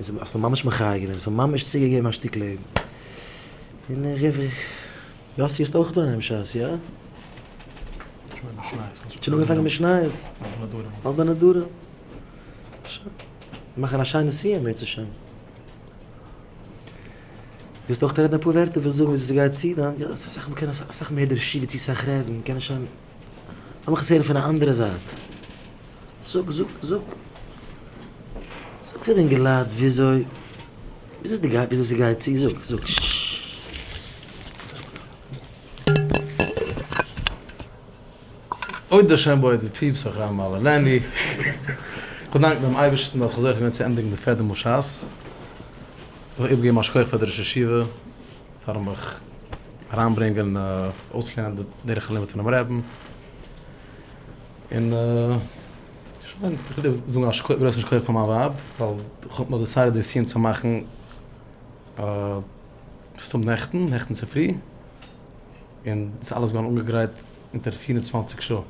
און ס'האט מיר ממש מחיה געווען, ס'האט מיר ממש צוגעגעבן א שטיק לעבן. און איך רוף איר, יאסי האסט אויך דא אינעם שס, יא? שוין אנגעפאנגען מיט שנייעס? אלט בן הדור. שוין, מיר מאכן א שיינע סיום בעז השם. ווילסט אויך רעדן אפאר ווערטער, ווילסט זאגן וויאזוי ס'גייט צו דאן? יא, ס'איז אסאך, מ'קען אסאך מער דערשי ווי צו סאך רעדן, מ'קען נישט שוין. לאמיך עס הערן פון א אנדערע זייט. זאג, זאג, זאג. זאג פאר די אינגעלייט וויאזוי, וויאזוי די גייט, וויאזוי ס'גייט צו. זאג, זאג. אוי דער שם בויעט ווי פיפס אויף ר' מאיר לענדי. כ'דאנק דעם אייבערשטן אז כ'האב זוכה געווען צו ענדיגן די פעדעם אויף שס. כ'וויל איבערגעבן א שכח פאר די ראש ישיבה. פארן מיך אריין ברענגען אויסלערנען די דרך הלימוד פונעם רעבען, און שוין, איך וויל דיר זאגן א גרויסן שכח פאר מיין ווייב, ווייל איך האב נאר דעסיידעט די סיום צו מאכן מסתמא נעכטן, נעכטן צופרי, און ס'איז אלעס געווארן אנגעגרייט אונטער פֿיר און צוואַנציק שעה,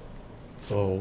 סאו.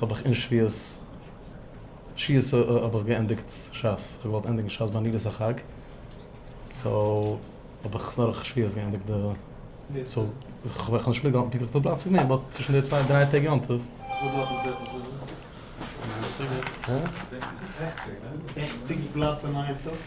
האב איך אין שביעות ש ס האב איך געענדיגט ש ס, איך האב געוואלט ענדיגן ש ס ביי נילוס החג, סאו האב איך עס נאר איך שביעות געענדיגט די סאו איך האב נישט מיטגעהאלטן פונקטליך וויפיל פלאץ איך בין באט צווישן די צוויי דריי טעג יום טוב. וואס בלאט האט געזעט מסודר? זעכציג בלאט אין איין טאג?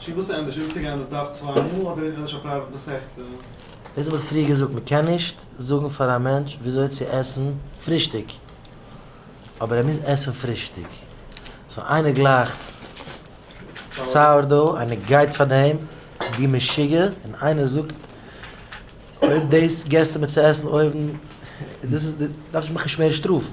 שוין וואס ענדערש וויל צוגיין די דף צוויי מאל אדער ענדערש א פרייוועט מסכתא? דאס האב איך פריער געזאגט מען קען נישט זאגן פאר א מענטש וויאזוי צו עסן פרישטאג אבער ער מוז עסן פרישטאג סאו איינער גלייכט סאוער דאו איינער גייט פאר דעם ווי משוגע און איינער זאגט אויב דאס געסטו מיר צו עסן אויבן דאס איז דארפסט מיך נישט מער שטראפן.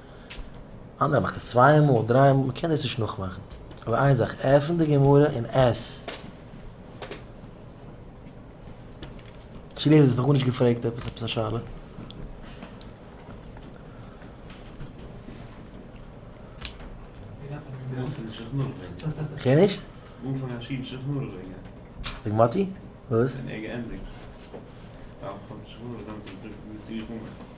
אן ער מאכט עס צוויי מאל דריי מאל מ'קען דאס נישט נאכמאכן אבער איין זאך עפן די גמרא און עס שילעזער האט נאך גארנישט געפרעגט עפעס עפעס א שאלה. כ'הער נישט. וועגן מאטי? וואס?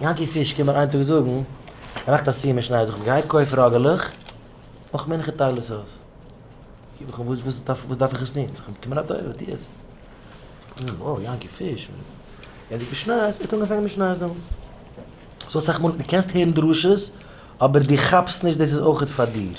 יענקי פיש קומט מיר איין טאג זאגן, ער מאכט א סיום אין שניי, זאגט ער, גיי קויף ראגעלעך, נאך מנחה טייל עס אויס. איך זאג אים, וואס וואס דארף איך עס טון? זאגט ער, קום אין א תורה, טו עס. איך זאג, וואו, יענקי פיש, ווען די פיש נייעס, ער האט אנגעפאנגען מיט שנייעס דעמאלטס. סאו אסאך מאל, די קענסט הערן דרשות, אבער די כאפסט נישט דאס איז אויכעט פאר דיר.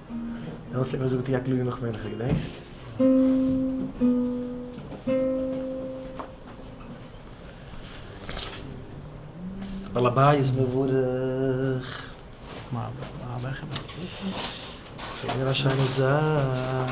דעמאלס האט ער געזאגט יא קלאר נאך מנחה געדענקסט? בעל הבית מבורך. זייער א שיינע זאך.